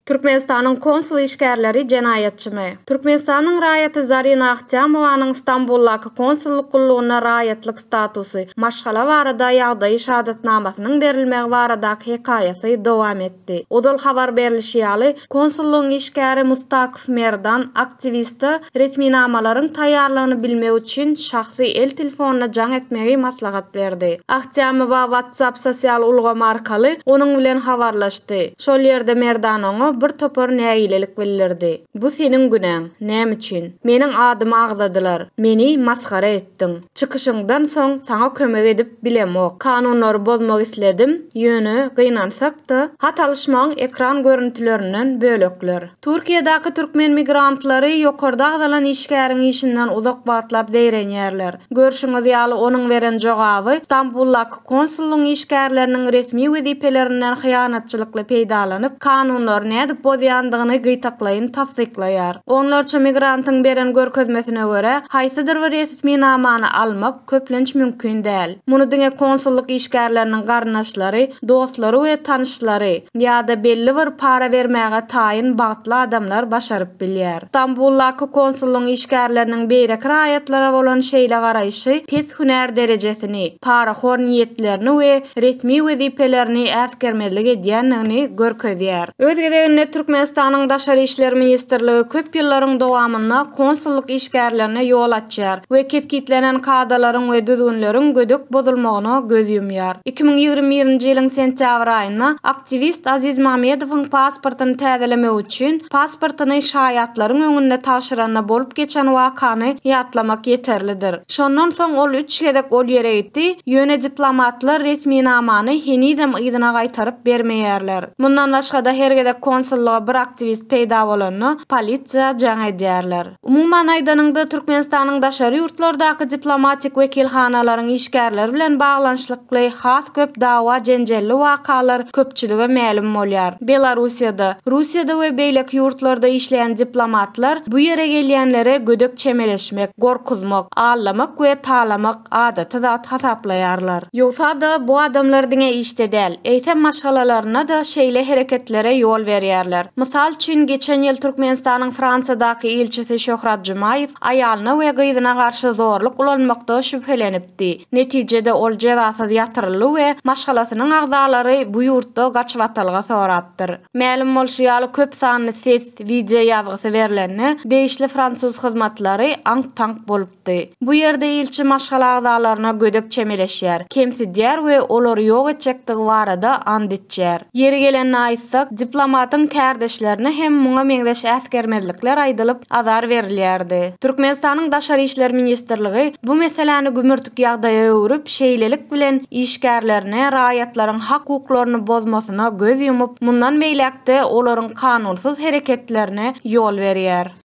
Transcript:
Türkmenistanyň konsul işgärleri jenaýatçymy? Türkmenistanyň raýaty Zarina Ahtyamowanyň Stambuldaky konsullyk gullugynda raýatlyk statusy, maşgala barada ýagdaýy şahadatnamasynyň berilmegi baradaky hekaýasy dowam etdi. Ozal habar berlişi ýaly, konsullygyň işgäri Mustak. Khmerdan aktiwiste resminamalaryň taýýarlygyny bilmek üçin şahsy el telefonda jaň etmegi maslahat berdi. Ahtýamowa WhatsApp sosial ulgamy arkaly onuň bilen habarlaşdy. Şol ýerde Merdan oňa bir topar nägilelik bildirdi. Bu seniň günäň. Näme üçin? Meniň adymy agzadylar. Meni masgara etdiň. Çykyşyňdan soň saňa kömek edip bilemok. Kanunlary bozmak isledim, ýöne gynansak-da, hat alyşmagyň ekran görüntülerinden bölekler. Türkiýedäki türkmen migrantlary ýokarda agzalan işgäriň işinden uzak wagtlap zeýrenýärler. Görşüňiz ýaly, onuň beren jogaby Stambuldaky konsullygyň işgärleriniň resmi wezipelerinden hyýanatçylykly peýdalanyp, kanunlary nädip bozýandygyny gytaklaýyn tassyklaýar. Onlarça migrantyň beren görkezmesine görä, haýsydyr bir resminamany almak, köplenç mümkin däl. Muny diňe konsullyk işgärleriniň garyndaşlary, dostlary we tanyşlary ýa-da belli bir para bermäge taýyn bagtly adamlar başaryp bilýär. Stambuldaky konsullygyň işgärleriniň beýleki raýatlara bolan şeýle garaýşy pes hünär derejesini, parahor niýetlerini we resmi wezipelerini äsgermezlik edýändigini görkezýär. Öz gezeginde Türkmenistanyň Daşary işler ministrligi köp ýyllaryň dowamynda konsullyk işgärlerine ýol açýar. açýar we kesgitlenen kadalaryň we düzgünleriň gödek bozulmagyna göz ýumýar. Iki müň ýigrimi birinji ýylyň sentýabr aýynda aktiwist Aziz Mamedowyň pasportyny täzelemek üçin pasportyny şaýatlaryň öňünde tabşyranda bolup geçen wakany ýatlamak ýeterlidir. Şondan soň ol üç gezek ol ýere gitdi, ýöne diplomatlar resminamany henizem yzyna gaýtaryp bermeýärler. Mundan başga-da her gezek konsullyga bir aktiwist peýda bolanda polisiýa jaň edýärler. Umuman aýdanyňda, Türkmenistanyň daşary ýurtlardaky diplomatik wekilhanalaryň işgärleri bilen baglanyşlykly has köp dawa-jenjelli wakalar köpçülige mälim bolýar. Belarussiýada, Russiýada we beýleki ýurtlarda işleýän diplomatlar bu ýere gelýänlere gödek çemeleşmek, gorkuzmak, allamak we talamak, adaty zat hasaplaýarlar. Ýogsa-da, bu adamlar diňe işde däl, eýsem maşgalalarynda-da şeýle hereketlere ýol berýärler. Mysal üçin, geçen ýyl Türkmenistanyň Fransiýadaky ilçisi Şöhrat Jumaýew aýalyna we gyzyna garşy zorluk ulanmakda şübhelenipdi. Netijede, ol jezasyz ýatyryldy we maşgalasynyň agzalary bu ýurtda gaçybatalga sorapdyr. Mälim bolşy ýaly, köp sanly ses, wideo ýazgysy berlende, degişli fransuz hyzmatlary aňk-taňk bolup. çykdy. Bu ýerde ilçi maşgala agzalaryna gödek çemeleşýär, kemsidýär we olary ýok etjekdigi barada ant içýär. Ýeri gelende aýtsak, diplomatyň kärdeşlerine hem muňa meňzeş äsgermezlikler aýdylyp, azar berilýärdi. Türkmenistanyň Daşary işler ministrligi bu meseläni gümürtik ýagdaýa öwrüp, şeýlelik bilen işgärlerine raýatlaryň hak-hukuklaryny bozmasyna göz ýumup, mundan beýläk-de olaryň kanunsyz hereketlerine ýol berýär.